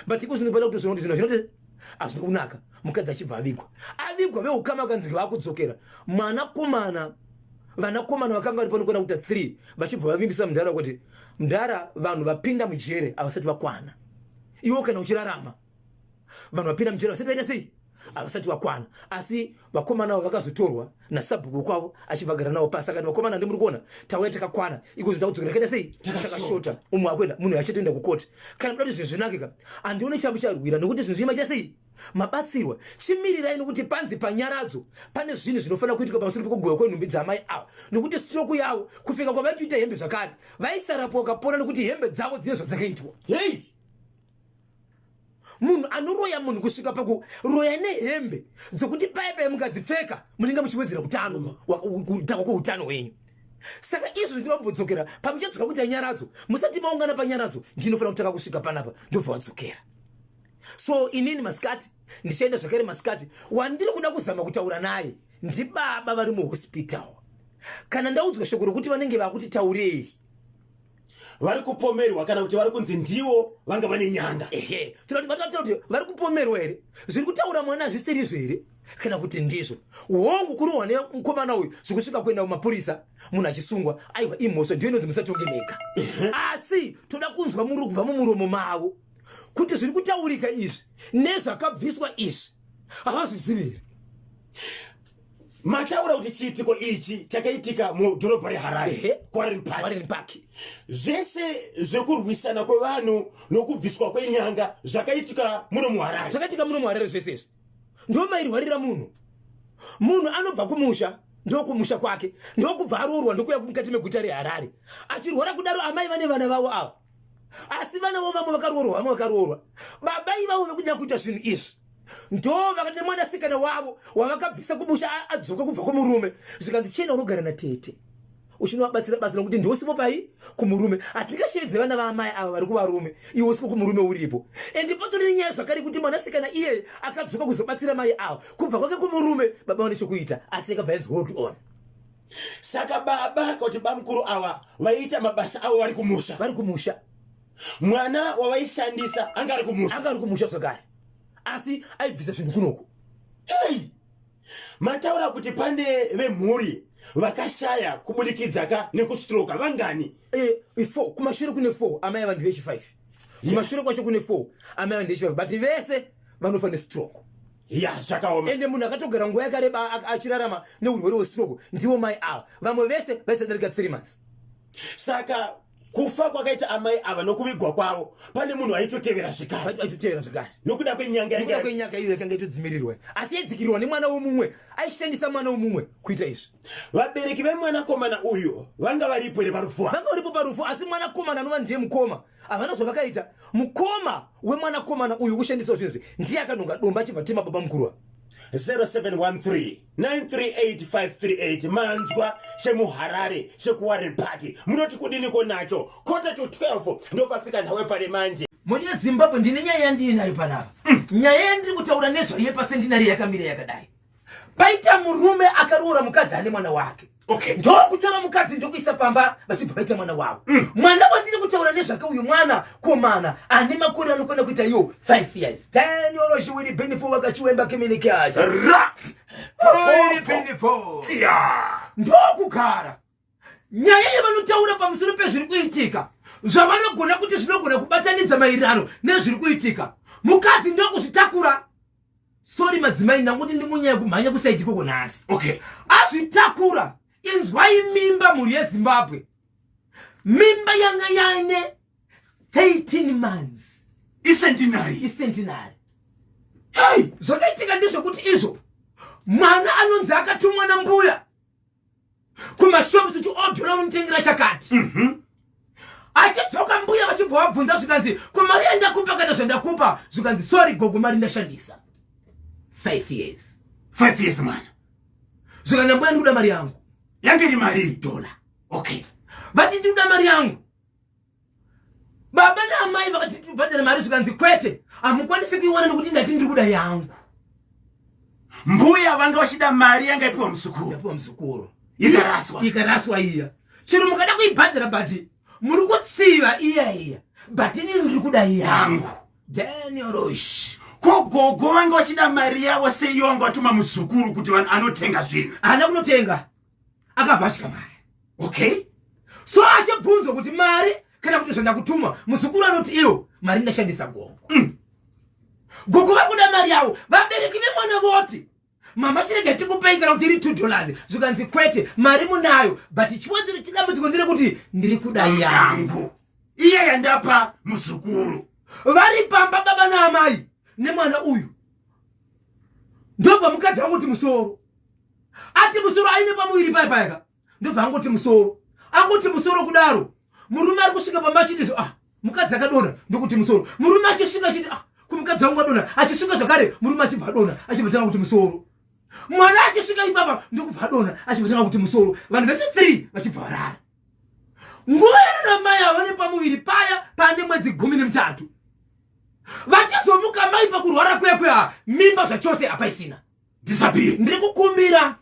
but iko zvinobaida kutozvona kuti zvinhu zvinoti hazvina kunaka mukadzi achibva avigwa avigwa veukama vakanzi vakudzokera mwanakomana vanakomana vakanga vari panokwana kuita three vachibva vavimbisa mudhara kuti mudhara vanhu vapinda mujere havasati vakwana iwo kana uchirarama vanhu vapinda mujere vasati vaita sei havasati vakwana asi vakomana avo vakazotorwa nasabhuku kwavo achivagara navo pasi akati vakomana ndimuri kuona tauya takakwana iko zvinhu takudzokera kaita sei takashota umwe akuenda munhu achatoenda kukoti kana muda kuti zvinhu zvinakika handione chambo charwira nokuti zvinhu zvii maita sei mabatsirwa chimirirai nokuti panzi panyaradzo pane zvinhu zvinofanira kuitika pamusoro pekugoya kwenhumbi dzaamai ava nokuti stroku yavo kufika kwavaitoita hembe zvakare vaisarapwa ukapona nokuti hembe dzavo dzine zvadzakaitwa hei munhu anoroya munhu kusvika pakuroya nehembe dzokuti paye paye mukadzipfeka munenge muchiwedzera utano kutanga kweutano hwenyu saka izvo ndinoda kumbodzokera pamuchadzoka kuita nyaradzo musati maungana panyaradzo ndinofanira kutanga kusvika panapa ndobva wadzokera so inini masikati ndichaenda zvakare masikati wandiri kuda kuzama kutaura naye ndibaba vari muhospital kana ndaudzwa shoko rokuti vanenge vakutitaurei vari kupomerwa kana kuti vari kunzi ndiwo vanga vane nyanga ehe tinotivataakuta kuti vari kupomerwa here zviri kutaura mwana hazvisirizvo here kana kuti ndizvo hongu kurohwa nemukomana uyu zvikusvika kuenda kumapurisa munhu achisungwa aiwa imhosva ndiyo inonzi musatonge mega asi toda kunzwa muri kubva mumuromo mavo kuti zviri kutaurika izvi nezvakabviswa izvi havazvizivi here mataura kuti chiitiko ichi chakaitika mudhorobha reharare kwarenpark park zvese zvekurwisana kwevanhu nokubviswa kwenyanga zvakaitika muno muharare zvakaitika muno muharare zvese izvi ndo mairwarira munhu munhu anobva kumusha ndokumusha kwake ndokubva aroorwa ndokuya mukati meguta reharare achirwara kudaro amai vane vana vavo ava asi vana vo vamwe vakaroorwa vamwe vakaroorwa baba ivavo vekunyaya kuita zvinhu izvi ndo vakati nemwanasikana wavo wavakabvisa kumusha adzoka kubva kumurume zvikanzi chienda unogara natete uchinovabatsira basa nokuti ndosipo pai kumurume hatingashevedze vana vaamai ava vari kuvarume iwe usipo kumurume uripo ende patori nenyaya zvakare kuti mwanasikana iyeye akadzoka kuzobatsira mai ava kubva kwake kumurume baba vane chokuita asi yakabva yanzi hold on saka baba kuti bamukuru awa vaiita mabasa avo vari kumusha vari kumusha mwana wavaishandisa anga ari kumusha anga ari kumusha zvakare asi aibvisa zvinhu kunoku hey! mataura kuti pane vemhuri vakashaya kubudikidza ka nekustroka vangani eh, eh, four kumashure kune four amai ava ndevechifive kumashure kwacho kune four amai ava ndevechifive but vese vanofa nestroke ya zvakaoma ende munhu akatogara nguva yakareba achirarama neurwere hwestroke ndivo mai ava vamwe vese vaisadarika 3 months saka kufa kwakaita amai ava nokuvigwa kwavo pane munhu aitotevera zvekareaitotevera zvekare nokuda kwenyangauda kwenyanga iyo yakanga itodzimirirwa asi yaidzikirirwa nemwana womumwe aishandisa mwana womumwe kuita izvi vabereki vemwanakomana uyu vanga varipo here parufu vanga varipo parufu asi mwanakomana anova ndiye mukoma havana zvavakaita mukoma wemwanakomana uyu kushandisa zvinhu izvi ndiye akanhonga domba achibva tema baba mukurwa 0713938538 manzwa chemuharare chekuwarren park munoti kudiniko nacho kota to 12 ndopafika nhau yepare manje moni yezimbabwe ndine nyaya yandiri nayo panapa mm. nyaya yandiri kutaura nezvayo yepasendinari yakamira yakadai paita murume akaroora mukadzi ane mwana wake okay. ndokutora mukadzi ndokuisa pamba vachibva vaita mwana wavo mm. mwana wandiri kutaura nezvake uyu mwana komana ane makore anokwana kuita iyo 5 years tanyorochiwiri bhinifo vakachiwemba kiminikacha ndokugara nyaya yavanotaura pamusoro pezviri kuitika zvavanogona kuti zvinogona kubatanidza maererano nezviri kuitika mukadzi ndokuzvitakura sori madzimai ndakuti ndimunyaya kumhanya kusaiti koko nhasi okay azvitakura inzwai mimba mhuri yezimbabwe mimba yanga yaine 13 months icentinary icentinary hey! zvakaitika ndezvekuti izvo mwana anonzi akatumwa nambuya kumashops kuti odhura unotengera chakati mm -hmm. achidzoka mbuya vachibva vabvunza zvikanzi ko mari yandakupa kana zvandakupa zvikanzi sorry gogo mari ndashandisa five years five years mwana zvikana mbuya ndikuda mari yangu yange iri mari iri dhola okay vati ndikuda mari yangu baba naamai vakati tibhadhare mari zvikanzi kwete hamukwanisi kuiwana nekuti ndati ndiri kuda yangu mbuya vanga vachida mari yanga ipiwa muzukuru ipiwa muzukuru ikaraswa ikaraswa iya chero mukada kuibhadhara but muri kutsiva iya iya but ini ndiri kuda yangu daniorosh ko gogo vanga vachida mari yavo seiyo vanga vatuma muzukuru kuti anotenga zvinhu haana kunotenga akabva asvika mari okay so achibvunzwa kuti mari kana kuti zvandakutuma muzukuru anoti iwo mari ndashandisa gongo mm. gongo vari kuda mari yavo vabereki vemwana voti mama chirega tikupei kana kuti iri two dollars zvikanzi kwete mari munayo but chiwadambudziko ndire kuti ndiri kuda yangu iye yandapa muzukuru vari pamba baba naamai nemwana uyu ndobva mukadzi angu kuti musoro ati musoro aine pamuviri paye payaka ndobva angoti musoro angoti musoro kudaro murume ari kusvika pamba achiti ah mukadzi akadona ndokuti musoro murume achisvika achiti ah kumukadzi wangu adona achisvika zvakare murume achibva adona achibva tanga kuti musoro mwana achisvika ipapa ndokubva adona achibva tanga kuti musoro vanhu vese three vachibva varara nguva yarara mai ava vane pamuviri paya pane mwedzi gumi nemutatu vachizomuka mai pakurwara kuya kuya mimba zvachose hapaisina disappear ndiri kukumbira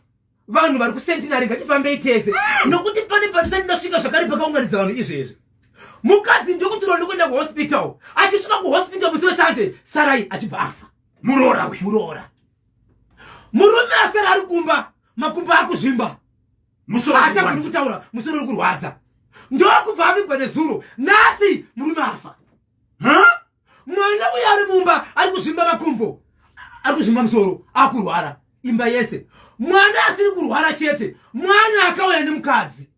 vanhu vari kusentinary ngatifambei tese ah! nokuti pane patisati ndasvika zvakare pakaunganidza vanhu izvezvi mukadzi ndokutirwa ndokuenda kuhospital achisvika kuhospital musi wesande sarai achibva afa muroora we muroora murume asara ari kumba makumba akuzvimba achagoni kutaura musoro uri kurwadza ndokubva avigwa nezuro nhasi murume afa mwana uyo ari mumba ari kuzvimba makumbo ari kuzvimba musoro akurwara imba yese mwana asiri kurwara chete mwana akauya nemukadzi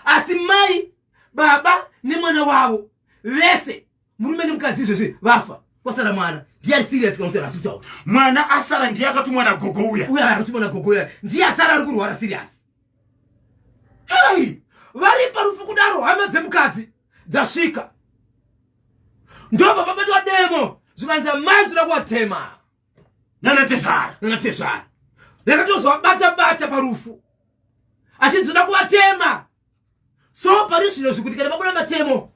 asi mai baba nemwana wavo vese murume nemukadzi izvezvi vafa kwasara mwana ndiye ari serious kana kuti arasi kutaura mwana asara ndiye akatumwa nagogo uya uya akatumwa nagogo uya ndiye asara ari kurwara serious hei vari parufu kudaro hama dzemukadzi dzasvika ndobva pabatwa demo zvikanzi amai toda kuvatema nanatezvara nanatezvara ndakatozovabata bata parufu achinzi toda kuvatema so pari zvino zvikuti kana pabuda matemo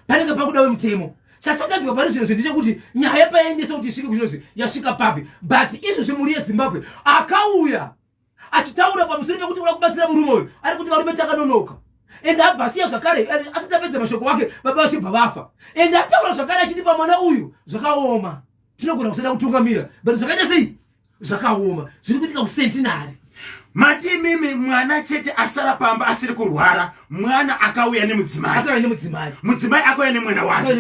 panenge pakuda wemutemo chasakadyiwa pari zvino zvendechekuti nyaya paendesa kuti isvike kuchinozi yasvika papi but izvozvi mhuri yezimbabwe akauya achitaura pamusoro pekuti uda kubatsira murume uyu ari kuti varume takanonoka ende abva asiya zvakare asati apedza mashoko wake baba vachibva vafa ende ataura zvakare achiti pamwana uyu zvakaoma tinogona kusada kutungamira but zvakaita sei zvakaoma zviri kuitika kusentinari mati imimi mwana chete asara pamba asiri kurwara mwana akauya nemudzimai mudzimai akauya nemwana wake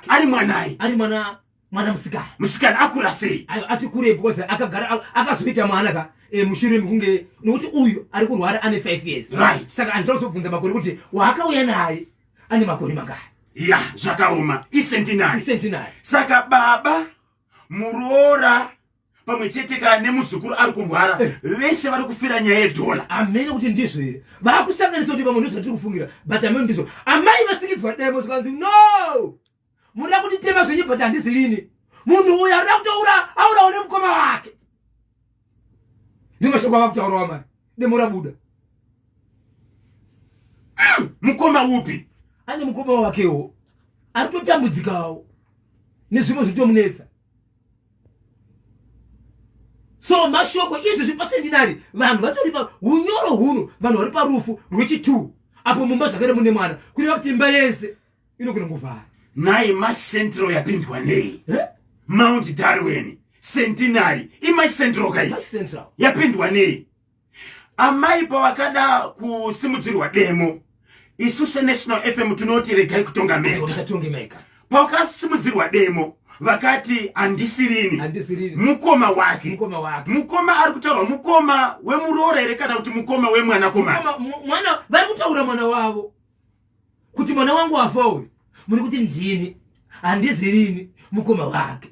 ari mwanai ari mwana mwana musikana musikana akura sei ati kurei because akagara akazoita mwana ka eh, mushure mekunge nokuti uyu ari kurwara ane five years right saka andida kuzobvunza makore kuti waakauya naye ane makore mangaya ya zvakaoma isentinai isentinai saka baba muroora pamwe chete ka nemuzukuru ari kurwara eh. vese vari kufira nyaya yedhola amene kuti ndizvo here vakusanganisa kuti pamwe ndizvo vatiri kufungira but amene ndizvo amai vasikidzwa demo zvikanzi no Murida kunditema zvenyu but handizivi ini. Munhu uyu arida kutoura aurawo nemukoma wake. Ndimashoko ava kutaurawa mari. Demo rabuda. Mm, mukoma upi? Ane mukoma wakewo. Ari kutotambudzikawo. Nezvimwe zvitomunetsa. so mashoko izvi zvipa sendinari vanhu vatori pa unyoro huno vanhu vari parufu rwechi2 apo mumba zvakare mune mwana kureva kuti imba yese inogona kuvhara nhai macentral yapindwa nei mount darwin centenary imacentral kai yapindwa nei amai pavakada kusimudzirwa demo isu senational fm tinoti regai kutonga meka pavakasimudzirwa demo vakati handisirini mukoma wake mukoma ari kutaurwa mukoma wemuroora here kana kuti mukoma wemwanakomana vari kutaura mwana wavo kuti mwana wangu wafa uyu muri kuti ndini handizirini mukoma wake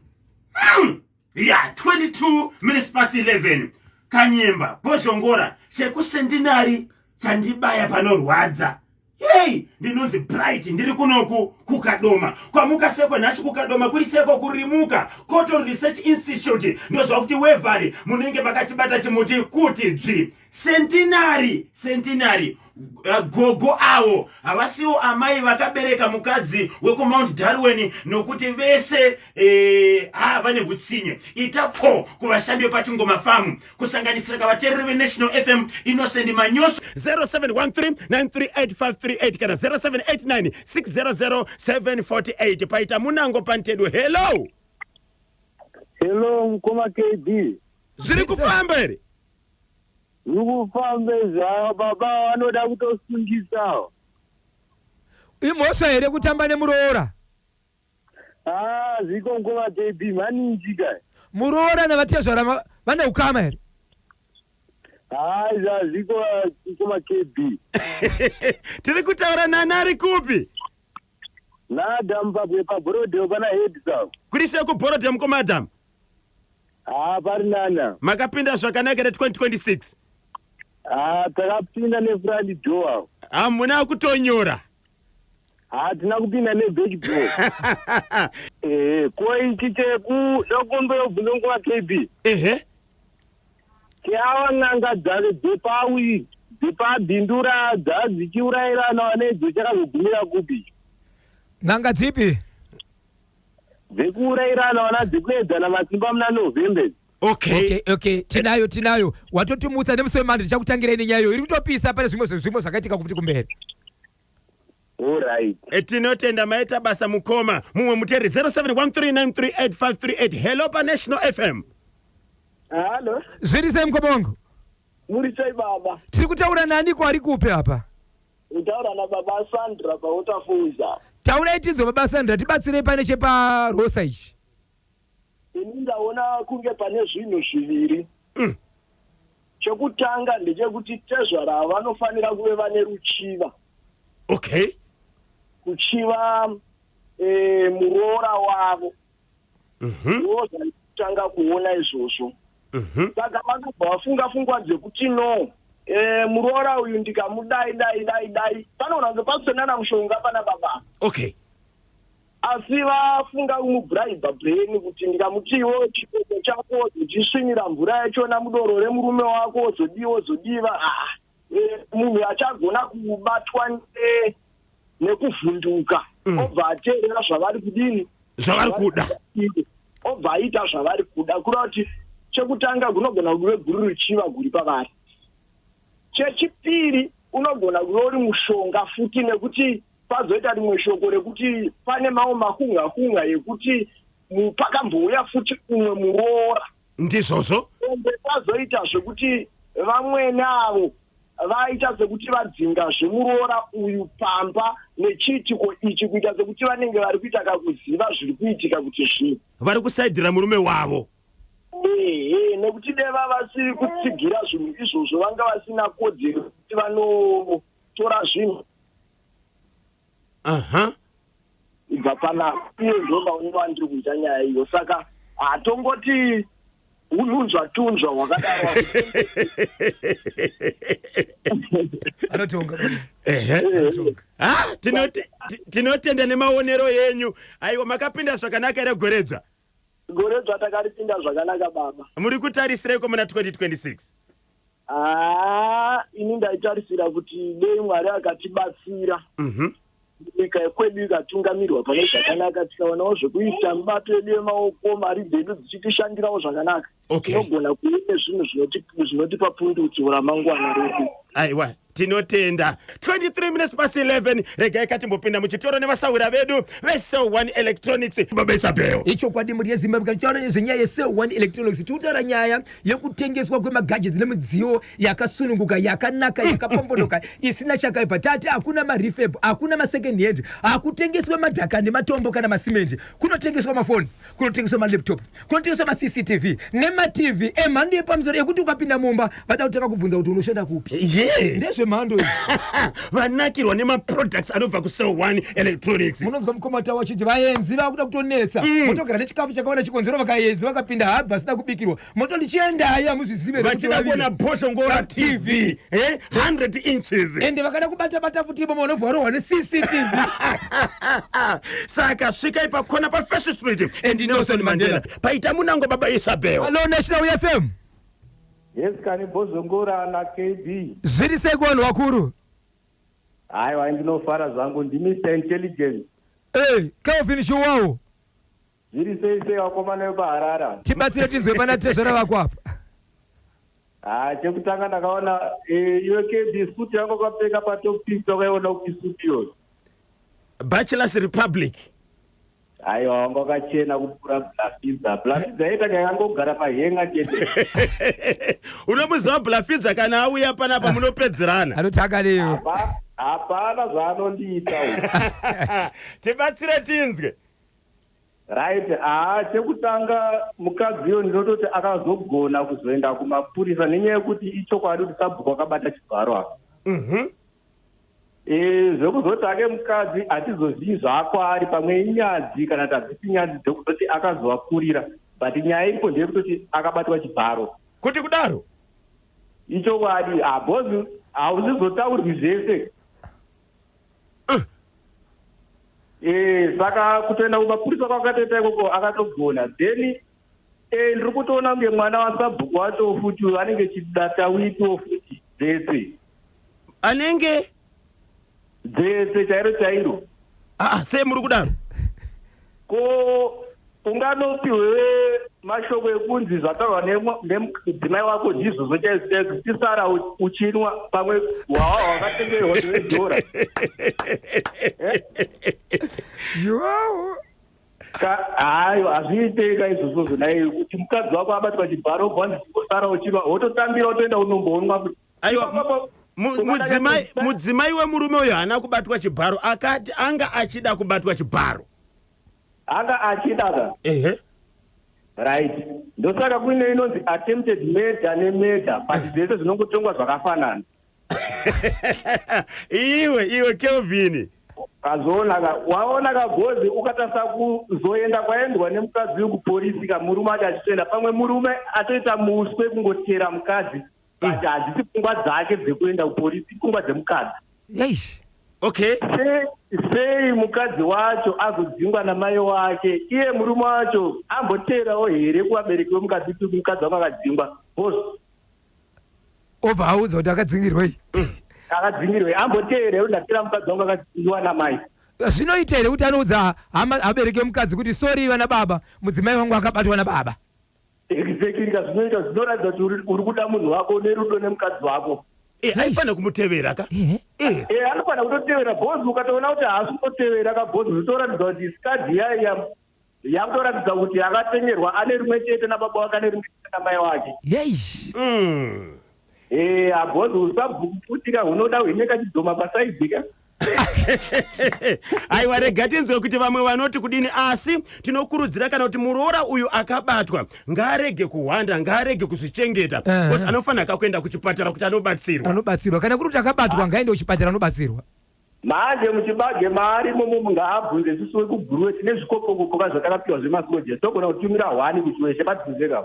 hmm. ya 22 minutes past 11 kanyemba bozhongora chekusendinari chandibaya panorwadza hei ndinonzi bright ndiri kunoku kukadoma kwamuka seko nhasi kukadoma kuri seko kurimuka coton research institute ndoziva kuti wevari munenge makachibata chimuti kuti dzvi Centenary, centenary. Uh, gogo avo havasiwo amai vakabereka mukadzi wekumount darwin nokuti vese eh, ha vane hutsinye ita pfo kuvashandi vepachingoma famu kusanganisira kavatereri venational fm innocent manyoso 0713938538 kana 0789600748 paita munango pantedo hello hello mukoma kd zviri kufamba here Zvikufamba izvi ava baba vanoda kutosungisa. Imhosva here kutamba nemuroora? Ah, zviko nguva JB maninji kai. Muroora navatezvara ma- vane ukama here? Ah, izvi hazviko kuma KB. tiri kutaura nani ari kupi Nada mupabwe pabrodeo pana head sao. kuri sei kuborodham komadam Haa pari nana. Makapinda zvakanaka here 2026? Haa takapinda nefront door. Hamuna kutonyora. Haa tina kupinda neback door. Ehe ko ichi cheku ndokumboyobvunza nguva KB. Ehe. Keawa n'anga dzave dzepawi dzepabindura dzadzichiurayirana wanedzo chakazogumira kupi? N'anga dzipi? dzekuurairana vana dzekuedzana masimba muna november okay okay okay tinayo tinayo watotimutsa nemusi wemandi tichakutangirai nenyaya iyo iri kutopisa pane zvimwe zvimwe zvakaitika kuti kumberi orit Eh, tinotenda maita basa mukoma mumwe muteri 0713938538 hello panational fm halo zviri sei mukoma wangu muri sei baba tiri kutaura naniko ari kupi apa Kutaura na baba Sandra pa Waterfalls apa. Taurai tinzwe baba Sandra tibatsirei pane chepa Rosa ichi. Ini ndaona kunge pane zvinhu zviviri. Mm. Chekutanga ndechekuti tezvara ava vanofanira kuve vane ruchiva. Okay. Kuchiva eh, muroora wavo. Mhm. ndivo zvaitanga kuona izvozvo Mhm. saka vakabva vafunga fungwa dzekuti no eh, muroora uyu ndikamudai dai dai dai panoona kunge pakusenana mushonga pana baba okay asi vafunga kumubhuraibha brain kuti ndikamutiwo chikoko chako zochisvinira mvura yachona mudoro remurume wako zodii wozodiva ah eh, munhu achagona kubatwa nekuvhunduka mm. obva ateerera zvavari kudini zvavari kuda obva aita zvavari kuda kureva kuti chekutanga kunogona kuve guru ruchiva guri pavari chechipiri unogona kuve uri mushonga futi nekuti pazoita rimwe shoko rekuti pane mamwe makunga kunga yekuti pakambouya futi umwe muroora ndizvozvo ende kwazoita zvekuti vamwene avo vaita sekuti vadzinga zvemuroora uyu pamba nechiitiko ichi kuita sekuti vanenge vari kuita kakuziva zviri kuitika kuti zvii vari kusaidhira murume wavo ehe nekuti deva vasiri kutsigira zvinhu izvozvo vanga vasina kodzero kuti vanotora zvinhu aha ibva pana iye ndoba unenge wandiri kuita nyaya iyo saka hatongoti ununzwa tunzwa hwakadaro anotonga ehe anotonga ha tinoti- ti- tinotenda nemaonero enyu aiwa makapinda zvakanaka here gweredzva Gore dzva takaripinda zvakanaka baba. Muri kutarisireko muna 2026? Haa ini ndaitarisira kuti dei Mwari akatibatsira. Mhm. Mm nyika yekwedu ikatungamirwa pane zvakanaka tikaonawo zvekuita mibato yedu yemaoko mari dzedu dzichitishandirawo zvakanaka okay tinogona kuita zvinhu zvinoti- zvinotipa pundutso ramangwana redu aiwa tinotenda 23 minutes past 11 regai katimbopinda muchitoro nevasahwira vedu vesel 1 electronics baba isabel ichokwadi mhuri yezimbabwe kana tichitaura nezvenyaya yesel 1 electronics tiri kutaura nyaya yekutengeswa kwemagadgets nemidziyo yakasununguka yakanaka yakapombonoka isina chakaipa tati hakuna marefab hakuna masecond hand hakutengeswe madhaka nematombo kana masimendi kunotengeswa mafoni kunotengeswa malaptop kunotengeswa macctv nematv emhando yepamusoro yekuti ukapinda mumba vada kutanga kubvunza kuti unoshanda kupi ye ndezvemhando izvi vanakirwa nemaproducts anobva kusell one electronics munonzwa mukoma tawo achiti vaenzi vakuda kutonetsa votogara nechikafu chakawanda chikonzero vakaenzi vakapinda habva asina kubikirwa moto ndichiendayo hamuzvizive vachida kuona bhosho ngora tv 100 eh, inches ende vakada kubata bata futi imomo vanobva varohwa necctv saka svikai pakona pafirst street and nelson mandela paita munango baba isabel hallo national fm yes kani bhosho ngora na kb zviri sei kuvanhu vakuru haiwa ndinofara zvangu ndimr intelligence ey kelvin shuwawo Zviri sei sei vakomana vepaharara. Tibatsire tinzwe pana tezvara vako apa. Haa chekutanga ndakaona eh, iwe KB suit yako kwapfeka patop pic wakaiona upi suit iyoyo. Bachelors Republic. Aiwa wanga wakachena kupfuura Blafidza. Blafidza yeta kayangogara pahenga chete. Unomuziva Blafidza kana auya panapa munopedzerana. Anoti akarewo. Hapana zvaanondiita uyu. Tibatsire tinzwe. Right, haa chekutanga mukadzi iyo ndinototi akazogona kuzoenda kumapurisa nenyaya yekuti ichokwadi kuti sabhuku akabata chibharo apa. Mhm. Mm e, zvekuzoti ake mukadzi hatizozivi zvakwaari pamwe inyadzi kana tadzisi nyadzi dzekuzoti akazovakurira but nyaya iripo ndeyekutoti akabatwa chibharo kuti kudaro ichokwadi habozi ah, hauzizotaurwi zvese Eh, saka kutoenda kumapurisa kwakatoita ikoko akatogona then eh, ndiri kutoona kunge mwana wasabhuku wacho futi uyo anenge chidata witiwo futi dzetse anenge dzetse chairo chairo aa sei muri kudaro ko Unganopiwe mashoko ekunzi zvataurwa nemudzimai wako ndizvozvo chaizvo chaizvo chisara uchinwa pamwe hwawa hwakatengerwa nevedhora hayo hazviitei ka izvozvozvo nai kuti mukadzi wako abatwa chibharo obva ndisara uchinwa wototambira wotoenda unomboonwa kuti aiwa mudzimai wemurume uyo haana kubatwa chibharo akati anga achida kubatwa chibharo anga achida ka ehe right ndosaka kuine inonzi attempted murder nemurder but eh. zvese zvinongotongwa zvakafanana iwe iwe kelvin kazoonaka waona kagozi ukatasa kuzoenda kwaendwa nemukadzi wekuporisi kamurume acho achitoenda pamwe murume atoita muswe kungotera mukadzi but hadzisi pfungwa dzake dzekuenda kupolisi pfungwa dzemukadzi eish okay Se- sei mukadzi wacho azodzingwa namai wake iye murume wacho amboteerawo here kuvabereki vemukadzi kuti mukadzi wake akadzingwa bcause obva audza kuti akadzingirwei akadzingirwei amboteera kuti ndateera mukadzi wangu akadzingwa namai zvinoita here kuti anoudza hama abereki emukadzi kuti sorry vana baba mudzimai wangu akabatwa nababa Exactly ka zvinoita zvinoratidza kuti uri- uri kuda munhu wako une rudo nemukadzi wako. Eh, aifanira kumutevera ka Ehe. Eh, Eh anofanira kutotevera boss ukatoona kuti haasi kutotevera ka boss zvitoratidza kuti skadi iya iya yakutoratidza kuti yakatengerwa ane rimwe chete nababa wake ane rimwe chete namai wake. Yeish. mm. Eh abhozi usabvukutika hunoda hwine kachidzoma pasaidhi ka. aiwa rega tinzwe kuti vamwe vanoti kudini asi tinokurudzira kana kuti muroora uyu akabatwa ngaarege kuhwanda ngaarege kuzvichengeta Eh. because anofanira ka kuenda kuchipatara kuti anobatsirwa anobatsirwa kana kuri kuti akabatwa ngaende kuchipatara anobatsirwa manje muchibage maari momo ngaabvunze sisi wekugurwe tine zvikopokopo ka zvatakapiwa zvemasoja togona kutumira hwani kuti weshe batizeka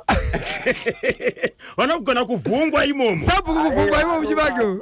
vanogona kuvhungwa imomo sabhuku kuvhungwa ivo muchibage uyu.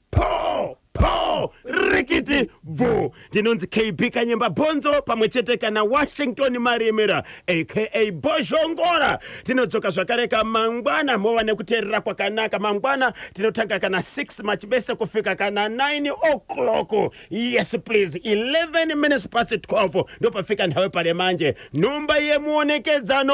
Poo! Poo! Rikiti! Bvuu! Ndinonzi KB Kanyemba Bhonzo pamwe chete kana Washington Maremera aka Bhozhongora. Tinodzoka zvakareka mangwana mova nekuteerera kwakanaka. Mangwana tinotanga kana 6 machibese kufika kana 9 o'clock. Yes please, 11 minutes past 12 ndopafika nhawe pale manje. Nhomba yemuonekedzano